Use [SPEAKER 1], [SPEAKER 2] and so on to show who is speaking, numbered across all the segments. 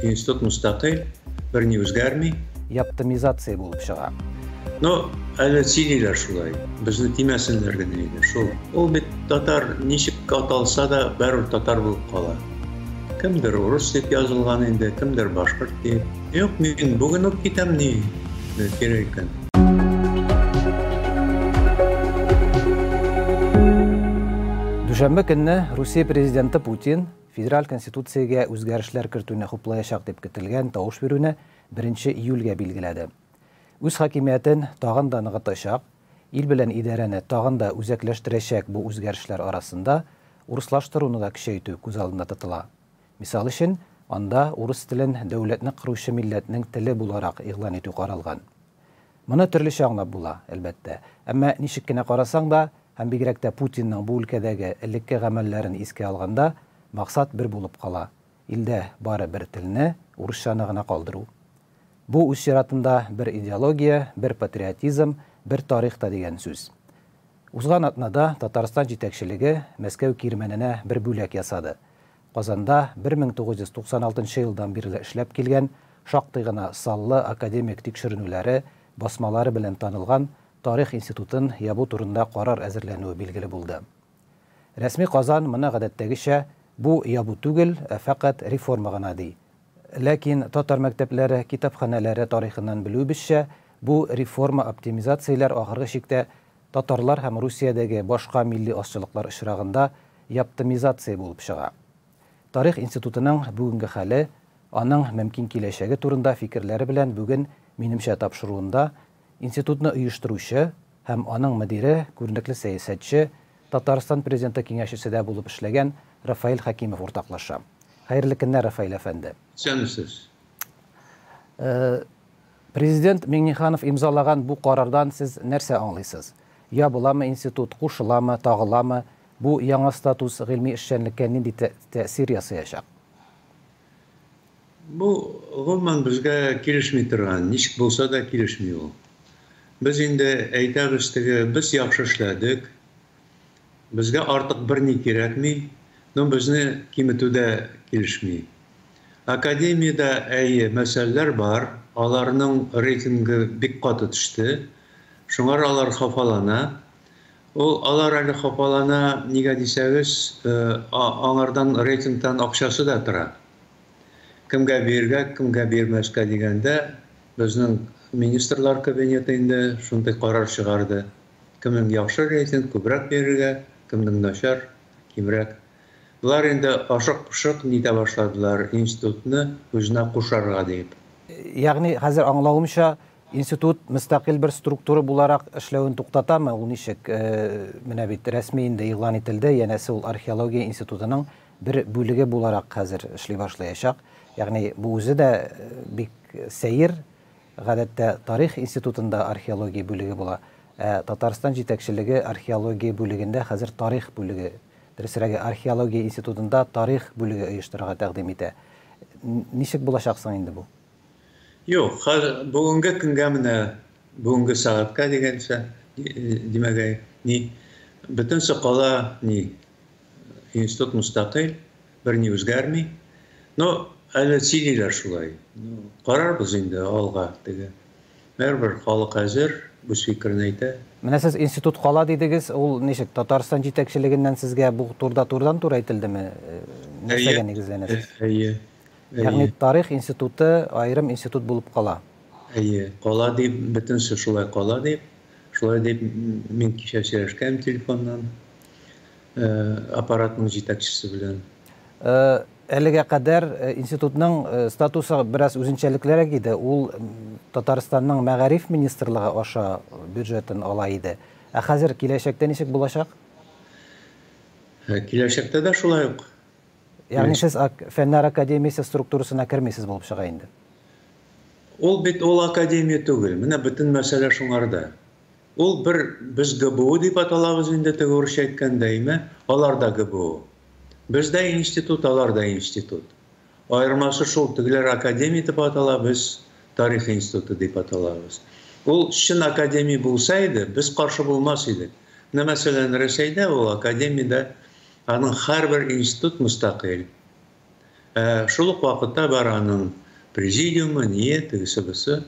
[SPEAKER 1] Институт мөстәкыйль, берни үзгәрми. Яптымизация
[SPEAKER 2] булып чыга. Но
[SPEAKER 1] әле сөйлиләр шулай. Безне тимәсеннәр генә иде. Шул. Ул бит татар ничек аталса да бәрү татар булып кала. Кемдер урыс дип язылган инде, кемдер башкорт дип. Юк, мин бүген үк китәм ни. Кирәк икән.
[SPEAKER 2] Дүшәмбе көнне Русия президенты Путин Федераль Конституциягә үзгәрешләр кертүне хуплаячак дип көтелгән тавыш бирүне беренче июльгә билгеләде. Үз хакимиятен тагын да ныгытачак, ил белән идарәне тагын да үзәкләштерәчәк бу үзгәрешләр арасында урыслаштыруны да көчәйтү күз алдында тотыла. Мисал өчен, анда урыс телен дәүләтне коручы милләтнең теле буларак игълан итү каралган. Моны төрлечә аңлап була, әлбәттә. Әмма ничек кенә карасаң да, һәм бигрәк тә Путинның бу өлкәдәге элекке гамәлләрен искә алганда, максат бер булып кала, илдә бары бер телне, урысчаны гына калдыру. Бу, үз чиратында, бер идеология, бер патриотизм, бер тарих та дигән сүз. Узган атнада Татарстан җитәкчелеге Мәскәү кирмәненә бер бүләк ясады. Казанда 1996 елдан бирле эшләп килгән, шактый гына саллы академик тикшеренүләре, басмалары белән танылган Тарих институтын ябу турында карар әзерләнүе билгеле булды. Рәсми Казан моны гадәттәгечә, бу ябу түгел, ә фәкать реформа гына, ди. Ләкин татар мәктәпләре, китапханәләре тарихыннан белүебезчә, бу реформа-оптимизацияләр ахыргы чиктә Татарлар һәм Русиядәге башка милли азчылыклар очрагында яптымизация булып чыга. Тарих институтының бүгенге хәле, аның мөмкин киләчәге турында фикерләре белән бүген минемчә тапшыруында институтны оештыручы һәм аның мөдире, күренекле сәясәтче, Татарстан Президенты киңәшчесе дә булып эшләгән Рафаэль Хәкимов уртаклаша. Хәерле көннәр, Рафаэль әфәнде! Исәнмесез! Президент Миңнеханов имзалаган бу карардан сез нәрсә аңлыйсыз? Ябыламы институт, кушыламы, тагыламы? Бу яңа статус гыйльми эшчәнлеккә нинди тәэсир ясыячак?
[SPEAKER 1] Бу, гомумән, безгә килешми торган, ничек булса да килешми ул. Без инде әйтәбез теге, без яхшы эшләдек. Безгә артык берни кирәкми, но безне киметү дә килешми. Академиядә, әйе, мәсьәләләр бар, аларның рейтингы бик каты төште, шуңар алар хафалана. Ул алар әле хафалана, нигә дисәгез, аңардан рейтингтан акчасы да тора. Кемгә бирергә, кемгә бирмәскә дигәндә, безнең министрлар кабинеты инде шундый карар чыгарды. Кемнең яхшы рәисен күбрәк бирергә, кемнең начар, кимрәк. Болар инде ашык-пошык нитә башладылар, институтны үзенә кушарга диеп. Ягъни, хәзер
[SPEAKER 2] аңлавымча, институт мөстәкыйль бер структура буларак эшләвен туктатамы, ул ничек? Менә бит рәсми инде игълан ителде, янәсе, ул археология институтының бер бүлеге буларак хәзер эшли башлаячак. Ягъни, бу үзе дә бик сәер, Гадәттә, Тарих институтында археология бүлеге була, ә Татарстан җитәкчелеге археология бүлегендә хәзер Тарих бүлеге, дөресрәге, Археология институтында Тарих бүлеге оештырырга тәкъдим итә. Ничек булачак соң инде бу? Юк,
[SPEAKER 1] хәз, бүгенге көнгә менә, бүгенге сәгатькә дигәнчә, димәк, әй, ни, бөтенесе кала, ни, институт мөстәкыйль. Берни үзгәрми. Но әле сөйлиләр шулай. Карарбыз инде алга теге. Бәрбер халык әзер, үз фикерен әйтә. Менә сез институт
[SPEAKER 2] кала дидегез, ул ничек, Татарстан җитәкчелегеннән сезгә бу турда турыдан тур әйтелдеме? Нәрсәгә нигезләнәсез? Әйе.
[SPEAKER 1] Ягъни
[SPEAKER 2] тарих институты аерым институт булып кала. Әйе, кала
[SPEAKER 1] дип, бөтенесе шулай кала дип. Шулай дип мин кичә сөйләшкән телефоннан. Э, аппаратның җитәкчесе белән э, әлегә кадәр
[SPEAKER 2] э, институтның статусы бераз үзенчәлеклерәк иде ул татарстанның мәгариф министрлыгы аша бюджетын ала иде ә хәзер киләчәктә ничек булачак
[SPEAKER 1] киләчәктә дә шулай ук ягъни сез
[SPEAKER 2] фәннәр академиясе структурасына кермисез булып чыга инде
[SPEAKER 1] ул бит ул академия түгел менә бөтен мәсьәлә шуңарда Ул бер без ГБУ дип аталабыз инде теге урысча әйткәндә име? Алар да ГБУ. Без дә институт, алар да институт. Аермасы шул, тегеләр академия итеп атала, без тарих институты дип аталабыз. Ул чын академия булса иде, без каршы булмас идек. Менә мәсәлән, Рәсәйдә ул академия дә, аның һәрбер институт мөстәкыйль. Ә шул ук вакытта бар аның президиумы, ние, тегесе бусы,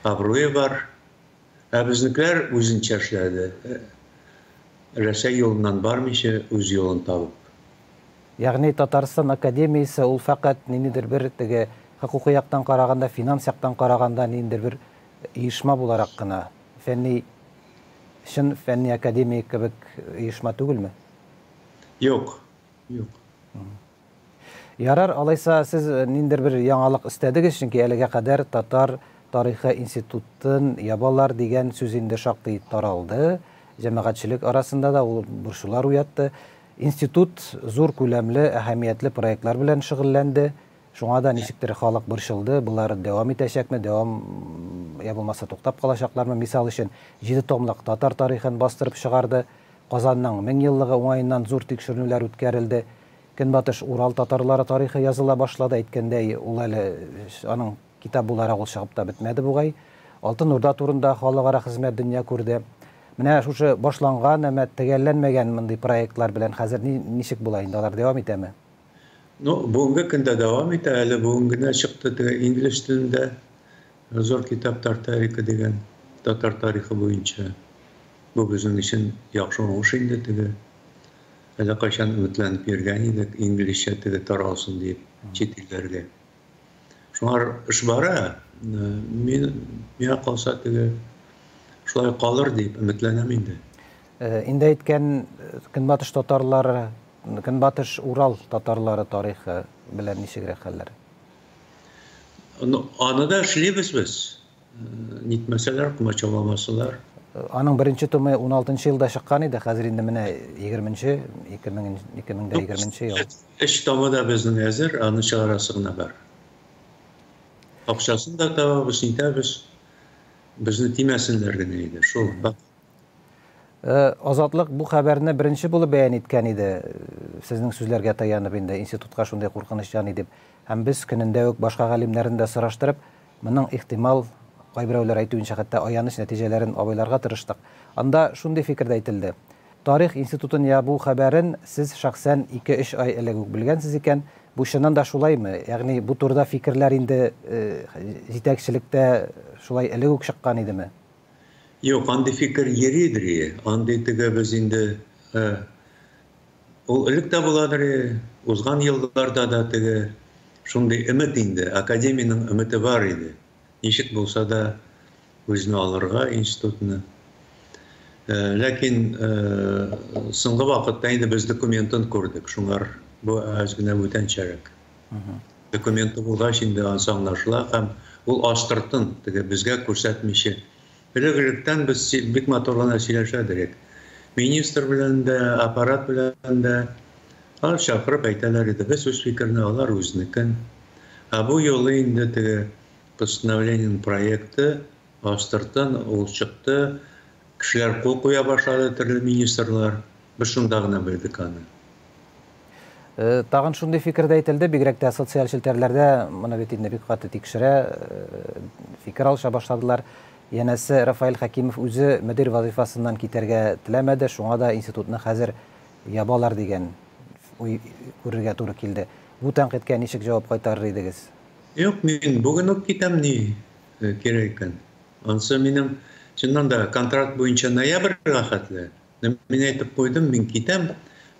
[SPEAKER 1] абруе бар. Ә безнекеләр үзенчә эшләде. Рәсәй юлыннан бармыйча, үз юлын табып. Ягъни
[SPEAKER 2] Татарстан академиясе ул фәкать ниндидер бер теге хокукый яктан караганда, финанс яктан караганда ниндидер бер оешма буларак кына, фәнни, чын фәнни академия кебек оешма түгелме? Юк,
[SPEAKER 1] Юк.
[SPEAKER 2] Ярар, алайса сез ниндер бер яңалык эстәдегез, чөнки әлегә кадәр татар тарихы институтын ябалар дигән сүз инде шактый таралды, җәмәгатьчелек арасында да ул борчулар уятты. Институт зур күләмле, әһәмиятле проектлар белән шөгыльләнде. Шуңа да ничектер халык борчылды, болар дәвам итәчәкме, дәвам я булмаса туктап калачаклармы? Мисал өчен, җиде томлык татар тарихын бастырып чыгарды. Казанның меңьеллыгы уңаеннан зур тикшеренүләр үткәрелде. Көнбатыш Урал татарлары тарихы языла башлады, әйткәндәй, ул әле аның китап буларак ул чыгып та бетмәде бугай. Алтын Урда турында халыкара хезмәт дөнья күрде. Менә шушы башланган, әмма төгәлләнмәгән мондый проектлар белән хәзер ни, ничек була инде, алар дәвам итәме? Ну,
[SPEAKER 1] бүгенге көндә дәвам итә, әле бүген генә чыкты теге инглиш телендә зур китап Тартарика дигән татар тарихы буенча. Бу безнең өчен яхшы уңыш инде теге. Әле кайчан өметләнеп йөргән идек, инглишчә теге таралсын диеп чит илләргә. Шуңар эш бара. Мин миңа калса теге шулай калыр дип өметләнәм инде. Инде
[SPEAKER 2] әйткән көнбатыш татарлары Көнбатыш Урал татарлары тарихы белән ничегрәк хәлләр?
[SPEAKER 1] Аны да эшлибез без. Нитмәсәләр, комачауламасалар. Аның беренче
[SPEAKER 2] томы 16 елда чыккан иде, хәзер инде менә 20-нче, 2020 ел. Эш томы да
[SPEAKER 1] безнең әзер, аны чыгарасы гына бар. Акчасын да табабыз, нитәбез. Безне тимәсеннәр генә иде, шул.
[SPEAKER 2] Азатлык бу хәбәрне беренче булып бәян иткән иде, сезнең сүзләргә таянып инде, институтка шундый куркыныч яный дип. Һәм без көнендә үк башка галимнәрне дә сораштырып, моның ихтимал, кайберәүләр әйтүенчә, хәтта аяныч нәтиҗәләрен абайларга тырыштык. Анда шундый фикер дә әйтелде, тарих институтын ябу хәбәрен сез шәхсән ике-өч ай элек үк белгәнсез икән, бу чыннан да шулаймы? Ягъни бу турыда фикерләр инде җитәкчелектә шулай элек үк чыккан идеме? Юк,
[SPEAKER 1] андый фикер йөридер и, андый теге без инде э, ул элек тә буладыр и, узган елларда да теге шундый өмет инде, академиянең өмете бар иде. Ничек булса да үзенә алырга институтны. Э, ләкин э, соңгы вакытта инде без документын күрдек, шуңар бу әз генә бүтәнчәрәк. документы булгач инде анысы аңлашыла һәм ул астыртын теге безгә күрсәтмичә элек электән без бик матур гына сөйләшәдек идек министр белән дә аппарат белән дә алар чакырып әйтәләр иде без үз фикерне алар үзнекен ә бу юлы инде теге постановлениенең проекты астыртын ул чыкты кешеләр кул куя башлады төрле министрлар без шунда гына белдек аны Э, тагын
[SPEAKER 2] шундый фикер дә әйтелде, бигрәк тә социаль челтәрләрдә моны бит инде бик каты тикшерә, э, фикер алыша башладылар. Янәсе Рафаэль Хәкимов үзе мөдир вазифасыннан китәргә теләмәде, шуңа да институтны хәзер ябалар дигән уй күрергә туры килде. Бу тәнкыйтькә ничек җавап кайтарыр идегез? Юк, мин
[SPEAKER 1] бүген үк китәм ни э, кирәк икән. Ансы минем чыннан да контракт буенча ноябрьгә хәтле Мин әйтеп куйдым, мин китәм,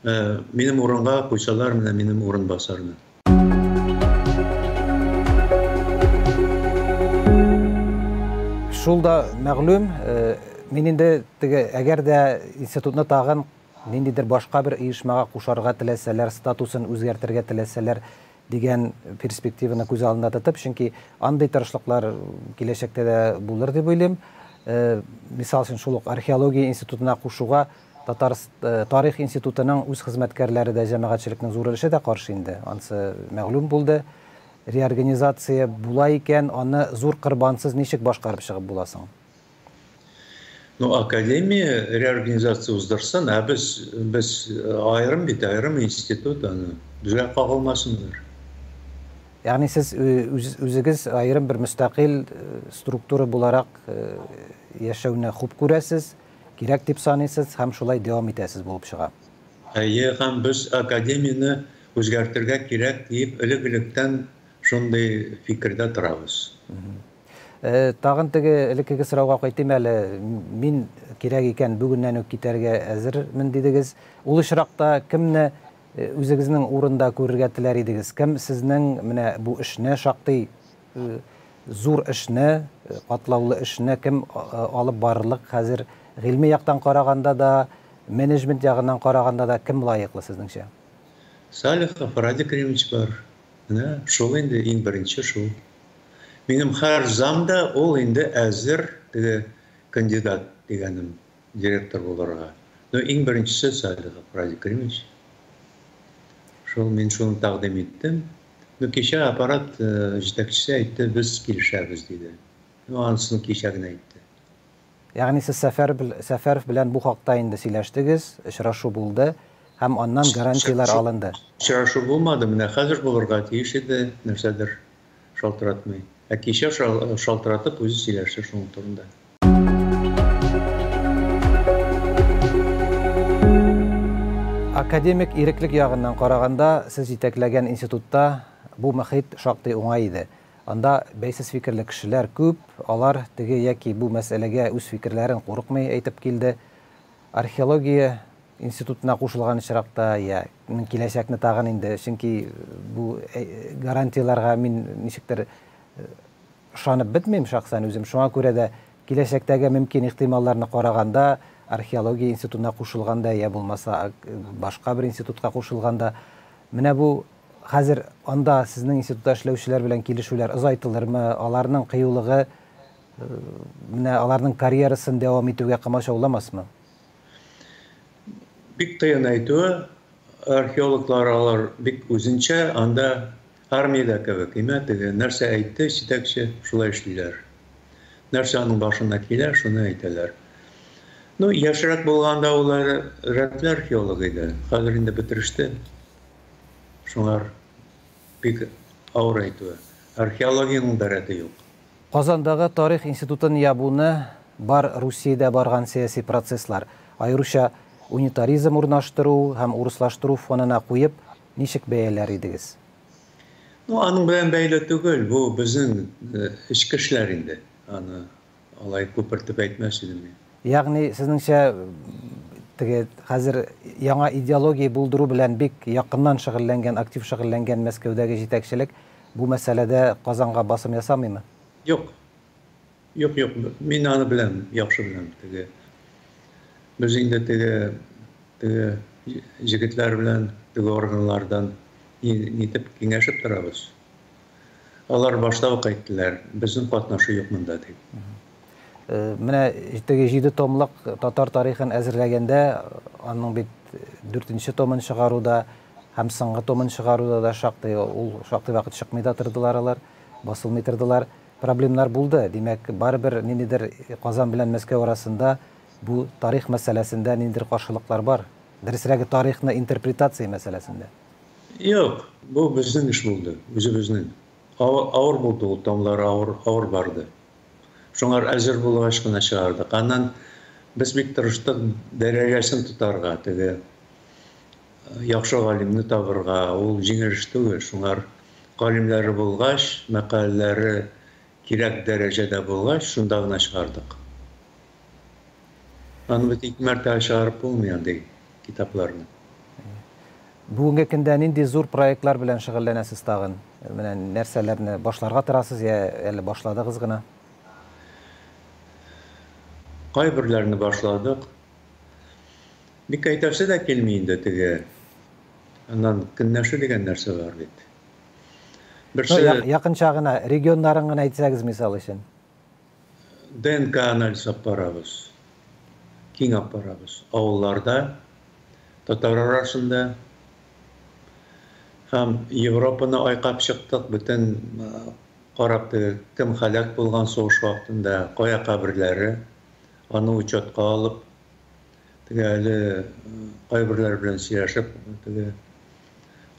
[SPEAKER 1] э, минем урынга куйсалар менә минем урынбасарны.
[SPEAKER 2] Шул да мәгълүм, э, мин инде теге әгәр дә институтны тагын ниндидер башка бер оешмага кушарга теләсәләр, статусын үзгәртергә теләсәләр, дигән перспективаны күз алдында тотып, чөнки андый тырышлыклар киләчәктә дә булыр дип уйлыйм. Мисал өчен, шул ук археология институтына кушуга тарих институтының үз хезмәткәрләре дә, җәмәгатьчелекнең зур өлеше дә каршы инде, ансы мәгълүм булды. Реорганизация була икән, аны зур кырбансыз ничек башкарып чыгып була соң? Ну,
[SPEAKER 1] академия реорганизация уздырсын, ә без, без э, аерым бит, аерым институт аны. Безгә кагылмасыннар.
[SPEAKER 2] Ягъни сез э, үзегез аерым бер мөстәкыйль э, структура буларак яшәүне хуп күрәсез, кирәк дип саныйсыз һәм шулай
[SPEAKER 1] дәвам
[SPEAKER 2] итәсез булып чыга. Әйе, һәм без академияне
[SPEAKER 1] үзгәртергә кирәк дип элек-электән шундый фикердә торабыз.
[SPEAKER 2] Тагын теге элеккеге сорауга кайтыйм әле. Мин кирәк икән бүгеннән үк китәргә әзермен дидегез. Ул очракта кемне үзегезнең урында күрергә теләр идегез? Кем сезнең менә бу эшне, шактый зур эшне, катлаулы эшне кем алып барырлык хәзер? Гыйльми яктан караганда да, менеджмент ягыннан караганда да кем лаеклы сезнеңчә? Салихов
[SPEAKER 1] Радик Римович бар. Менә шул инде иң беренче шул. Минем хәр зам да ул инде әзер теге кандидат дигәнем директор булырга. Ну, иң беренчесе Салих Гапради Кремич. Шул мин шуны тәкъдим иттем. Ну, кичә аппарат э, җитәкчесе әйтте, без килешәбез диде. Ну, анысын кичә генә әйтте. Ягъни
[SPEAKER 2] сез Сәфәров белән бу хакта инде сөйләштегез, очрашу булды һәм аннан гарантияләр алынды? Очрашу булмады,
[SPEAKER 1] менә хәзер булырга тиеш иде, нәрсәдер шалтыратмый. Ә кичә шалтыратып үзе сөйләште шуның турында.
[SPEAKER 2] Академик иреклек ягыннан караганда, сез җитәкләгән институтта бу мөхит шактый уңай иде. Анда бәйсез фикерле кешеләр күп, алар теге яки бу мәсьәләгә үз фикерләрен курыкмый әйтеп килде. Археология институтына кушылган очракта, я ның киләчәкне тагын инде, чөнки бу гарантияләргә мин ничектер ышанып бетмим шәхсән үзем, шуңа күрә дә киләчәктәге мөмкин ихтималларны караганда, археология институтына кушылганда, я булмаса башка бер институтка кушылганда, менә бу Хәзер анда сезнең институтта эшләүчеләр белән килешүләр озайтылырмы, аларның кыюлыгы менә аларның карьерасын дәвам итүгә комачауламасмы?
[SPEAKER 1] Бик кыен әйтү, археологлар алар бик үзенчә, анда армиядә кебек, имә теге, нәрсә әйтте җитәкче, шулай эшлиләр. Нәрсә аның башына килә, шуны әйтәләр. Ну, яшьрәк булганда ул рәтле археолог иде, хәзер инде бетереште. Шуңар бик авыр әйтүе. Археологиянең дә рәте юк. Казандагы
[SPEAKER 2] тарих институтын ябуны бар Русиядә барган сәяси процесслар, аеруча унитаризм урнаштыру һәм урыслаштыру фонына куеп, ничек бәяләр идегез? Ну,
[SPEAKER 1] аның белән бәйле түгел, бу безнең эчке эшләр инде. Аны Алай күпертеп әйтмәс идем мин. Ягъни, сезнеңчә,
[SPEAKER 2] теге хәзер яңа идеология булдыру белән бик якыннан шөгыльләнгән, актив шөгыльләнгән Мәскәүдәге җитәкчелек бу мәсьәләдә Казанга басым ясамыймы? Юк.
[SPEAKER 1] Юк, юк. Мин аны беләм, яхшы беләм. Теге без инде теге теге җегетләр белән теге органнардан нитеп киңәшеп торабыз. Алар башта ук әйттеләр, безнең катнашу юк монда дип. Э,
[SPEAKER 2] менә теге җиде томлык татар тарихын әзерләгәндә аның бит дүртенче томын чыгаруда һәм соңгы томын чыгаруда да шактый ул шактый вакыт чыкмый да тордылар алар басылмый тордылар проблемнар булды димәк барыбер ниндидер казан белән мәскәү арасында бу тарих мәсьәләсендә ниндидер каршылыклар бар дөресрәге тарихны интерпретация мәсьәләсендә Юк,
[SPEAKER 1] бу безнең эш булды, үзебезнең. Авыр, авыр булды ул, таңнары авыр, авыр барды. Шуңар әзер булгач кына чыгардык. Аннан без бик тырыштык дәрәҗәсен тотарга, теге яхшы галимне табырга, ул җиңел эш түгел. Шуңар галимнәре булгач, мәкаләләре Кирәк дәрәҗәдә булгач, шунда гына чыгардык. Аны бит ике мәртәбә чыгарып булмый андый китапларны.
[SPEAKER 2] Бүгенге көндә нинди зур проектлар белән шөгыльләнәсез тагын? Менә нәрсәләрне башларга торасыз я әле башладыгыз гына?
[SPEAKER 1] Кайберләрне башладык. Бик әйтәсе дә килми инде теге, аннан көнләшү дигән нәрсә бар бит. Берсе... Ну,
[SPEAKER 2] якынча гына, регионнарын гына әйтсәгез, мисал өчен.
[SPEAKER 1] ДНК анализ алып барабыз. Киң алып барабыз. Авылларда, татар арасында, һәм Европаны айкап чыктык, бөтен карап кем халәк булган сугыш вакытында, кая каберләре, аны учетка алып, Теге әле кайберләр белән сөйләшеп, теге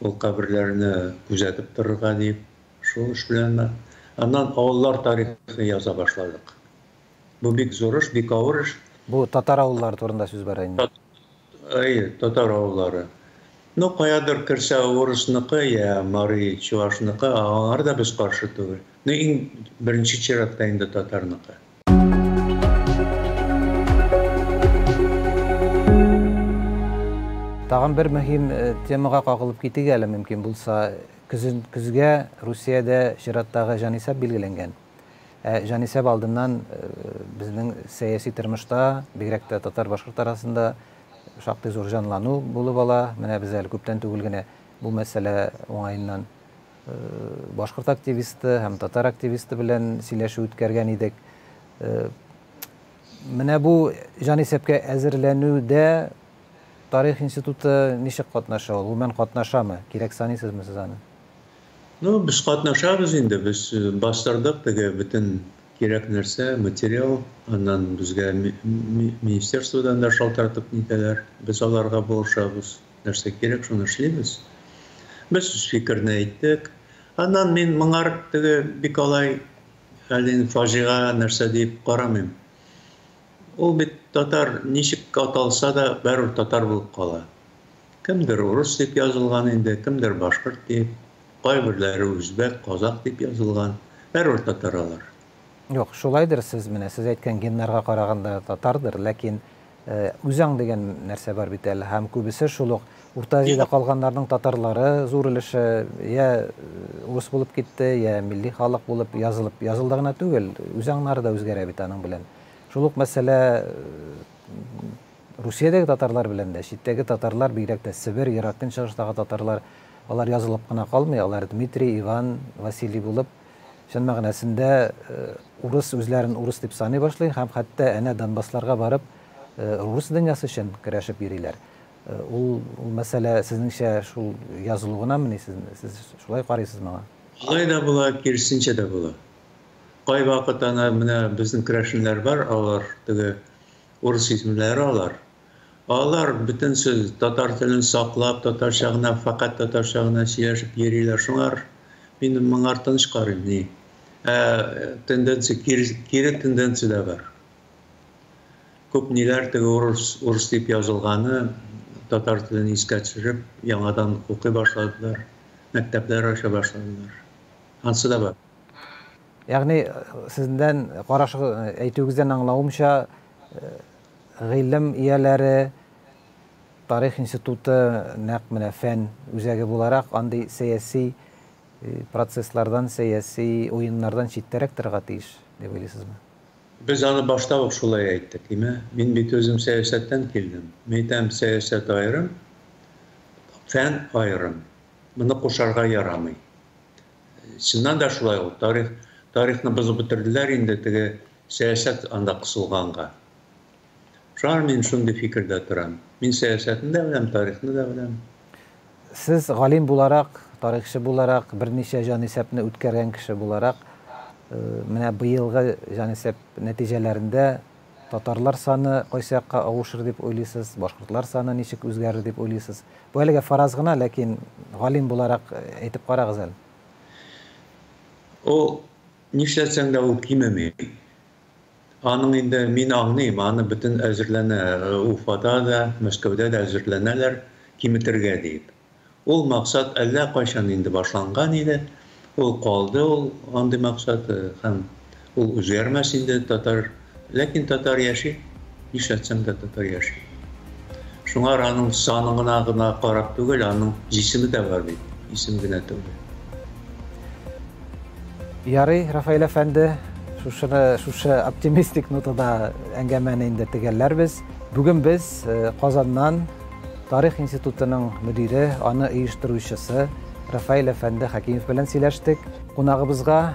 [SPEAKER 1] ул каберләрне күзәтеп торырга дип, шул эш белән дә. Аннан авыллар тарихын яза башладык. Бу бик зур эш, бик авыр эш. Бу татар
[SPEAKER 2] авыллары турында сүз
[SPEAKER 1] бара
[SPEAKER 2] инде. Әйе, татар авыллары. Ну,
[SPEAKER 1] каядыр керсә урысныкы, я мари чувашныкы, аңар да без каршы түгел. Ну, иң беренче чиратта инде татарныкы.
[SPEAKER 2] Тагын бер мөһим э, темага кагылып китик әле мөмкин булса. Көзен, көзгә Русиядә чираттагы җанисәп билгеләнгән. Ә җанисәп алдыннан э, безнең сәяси тормышта, бигрәк тә татар-башкорт арасында шактый зур җанлану булып ала. Менә без әле күптән түгел генә бу мәсьәлә уңаеннан Башкорт активисты һәм татар активисты белән сөйләшү үткәргән идек. Менә бу җанисәпкә әзерләнүдә тарих институты ничек катнаша ул? Гомумән катнашамы? Кирәк саныйсызмы сез аны? Ну,
[SPEAKER 1] без катнашабыз инде, без бастырдык теге бөтен кирәк нәрсә, материал, аннан безгә министерстводан да шалтыратып нитәләр, без аларга булышабыз. нәрсә кирәк, шуны эшлибез. Без үз фикерне әйттек. Аннан мин моңар теге бик алай әле фаҗига нәрсә дип карамыйм. Ул бит татар ничек аталса да бәрүр татар булып кала. Кемдер урыс дип язылган инде, кемдер башкорт дип, кайберләре үзбәк, казак дип язылган. Бәрүр татар алар. Юк,
[SPEAKER 2] шулайдыр сез менә сез әйткән геннарга караганда татардыр, ләкин Э, үзаң дигән нәрсә бар бит әле һәм күбесе шул ук урта азиядә калганнарның татарлары зур өлеше я э, урыс булып китте я милли халык булып язылып язылды гына түгел үзаңнары да үзгәрә бит аның белән шул ук мәсьәлә э, русиядәге татарлар белән дә читтәге татарлар бигрәк тә себер ерак көнчыгыштагы татарлар алар язылып кына калмый алар дмитрий иван василий булып Чын мәгънәсендә урыс үзләрен урыс дип саный башлый һәм хәтта әнә Донбассларга барып рус дөньясы өчен көрәшеп йөриләр. Ул мәсьәлә сезнеңчә шул язылу гынамыни? Сез шулай карыйсыз моңа? Алай да була,
[SPEAKER 1] киресенчә дә була. Кайвакыт ана менә безнең керәшеннәр бар, алар теге урыс исемләре алар. Алар бөтен сүз татар телен саклап, татарча гына, фәкать татарча гына сөйләшеп йөриләр. Шуңар мин моңар тыныч карыйм, ни. Ә тенденция кире, кире тенденция дә бар. Күп ниләр теге урыс, урыс дип язылганы татар телен искә төшереп, яңадан укый башладылар, мәктәпләр ача башладылар. Ансы да бар. Ягъни
[SPEAKER 2] сездән карашыгыз, әйтүегездән аңлавымча, Гыйлем ияләре, Тарих институты нәкъ менә фән үзәге буларак, андый сәяси процесслардан, сәяси уеннардан читтәрәк торырга тиеш, дип уйлыйсызмы? Без аны
[SPEAKER 1] башта ук шулай әйттек. Имә, мин бит үзем сәясәттән килдем. Мәйтәм, сәясәт аерым, фән аерым. Моны кушарга ярамый. Чыннан да шулай ул. Тарих, тарихны бозып бетерделәр инде, теге, Сәясәт анда кысылганга. Шуңа мин шундый фикердә торам. Мин сәясәтне дә беләм, тарихны да беләм. Сез
[SPEAKER 2] галим буларак, тарихчы буларак, берничә җанисәпне үткәргән кеше буларак, менә быелгы җанисәп нәтиҗәләрендә татарлар саны кайсы якка авышыр дип уйлыйсыз, башкортлар саны ничек үзгәрер дип уйлыйсыз? Бу әлегә фараз гына, ләкин галим буларак әйтеп карагыз әле. Ул
[SPEAKER 1] Нишләтсәң дә ул кимеми. Аның инде, мин аңлыйм, аны бөтен әзерләнә, Уфада да, Мәскәүдә дә әзерләнәләр, киметергә диеп. Ул максат әллә кайчан инде башланган иде, ул калды ул андый максат һәм ул үзгәрмәс инде татар Ләкин татар яши, нишләтсәң дә татар яши. Шуңар аның санына гына карап түгел, аның җисеме дә бар бит, исем генә түгел.
[SPEAKER 2] Ярый, Рафаэль әфәнде, шушыны, шушы оптимистик нотада әңгәмәне инде төгәлләрбез. Бүген без э, Казаннан Тарих институтының мөдире, аны оештыручысы Рафаэль әфәнде Хәкимов белән сөйләштек. Кунагыбызга